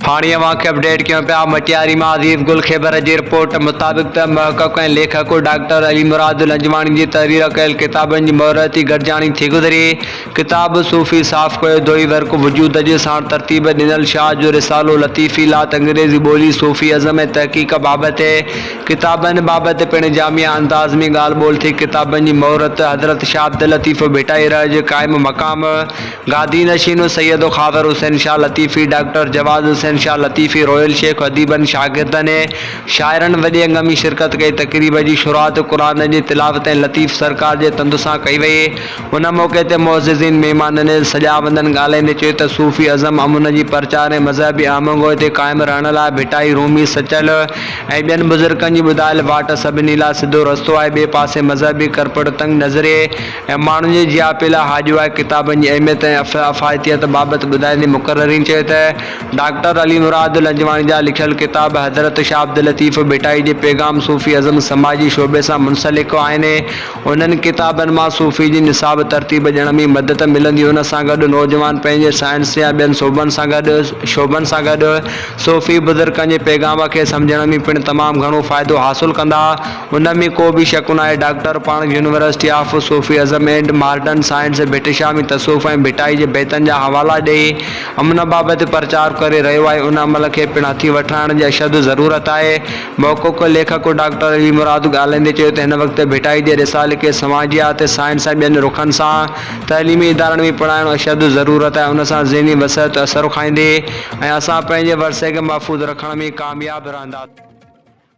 هاڻي اوهان کي اپڊيٽ ڪيون پيا مٽياري مان عزيز گل خيبر جي رپورٽ مطابق ته محقق ۽ ليکڪ ڊاڪٽر علي مراد لنجواڻي جي تحرير ڪيل ڪتابن جي مهرتي گڏجاڻي ٿي گذري ڪتاب صوفي صاف ڪيو دوئي ورق وجود جي ساڻ ترتيب ڏنل شاهه جو رسالو لطيفي لات انگريزي ٻولي صوفي ازم ۽ تحقيق بابت ڪتابن بابت پڻ جامع انداز ۾ ڳالهه ٻولهه ٿي ڪتابن جي مهرت حضرت شاهه عبداللطيف ڀٽائي رحه جي قائم مقام گادي نشين سيد خاور حسين شاهه لطيفي، ڊاڪٽر جواز حسين شاهه لطيفي، رويل شيخ، اديبن، شاگردن ۽ شاعرن وڏي انگ ۾ شرڪت ڪئي. تقريب جي شروعات قرآن جي تلاوت ۽ لطيف سرڪار جي تند سان ڪئي وئي. ان موقعي تي معززين مهمانن ۽ سجاوندن ڳالهائيندي چيو ته صوفي اعظم امن جي پرچار ۽ مذهبي آمهنگوء تي قائم رهڻ لاء ڀٽائي، رومي، سچل ۽ ٻين بزرگن جي ٻڌايل واٽ سڀني لاء سڌو رستو آهي. ٻئي پاسي مذهبي ڪرپٽ تنگ نظريء، ۽ ماڻهن جي جياپي لاء هاڄو آهي ڪتابن جي اهميت ۽ افايتيت بابت ٻڌائيندي مقررين چيو ته ڊاڪٽر علي مراد لنجواڻي جا لکيل ڪتاب حضرت شاهه عبداللطيف ڀٽائي جي پيغام صوفي ازم سماجي شعبي سان منسلڪ آهن انهن ڪتابن مان صوفي جي نصاب ترتيب ڏيڻ ۾ مدد ملندي ان سان گڏ نوجوان پنهنجي سائنس يا ٻين شعبن سان گڏ شعبن سان گڏ صوفي بزرگن جي پيغام کي سمجهڻ ۾ پڻ تمام گهڻو فائدو حاصل ڪندا. ان ۾ ڪو به شڪ ناهي ڊاڪٽر پاڻڪ university of Sufism and modern science Bhitshah ۾ تصوف ۽ ڀٽائي جي بيتن جا حوالا ڏئي امن بابت پرچار ڪري رهيو آهي ان عمل کي پڻ هٿي وٺرائڻ جي اشد ضرورت آهي محقق ليکڪ ڊاڪٽر علي مراد ڳالهائيندي چيو ته هن وقت ڀٽائي جي رسالي کي سماجيات سائنس ۽ ٻين رخن سان تعليمي ادارن ۾ پڙهائڻ اشد ضرورت آهي ان سان ذهني وسعت اثرکائيندي ۽ اسان پنهنجي ورثي کي محفوظ رکڻ ۾ ڪامياب رهنداسين.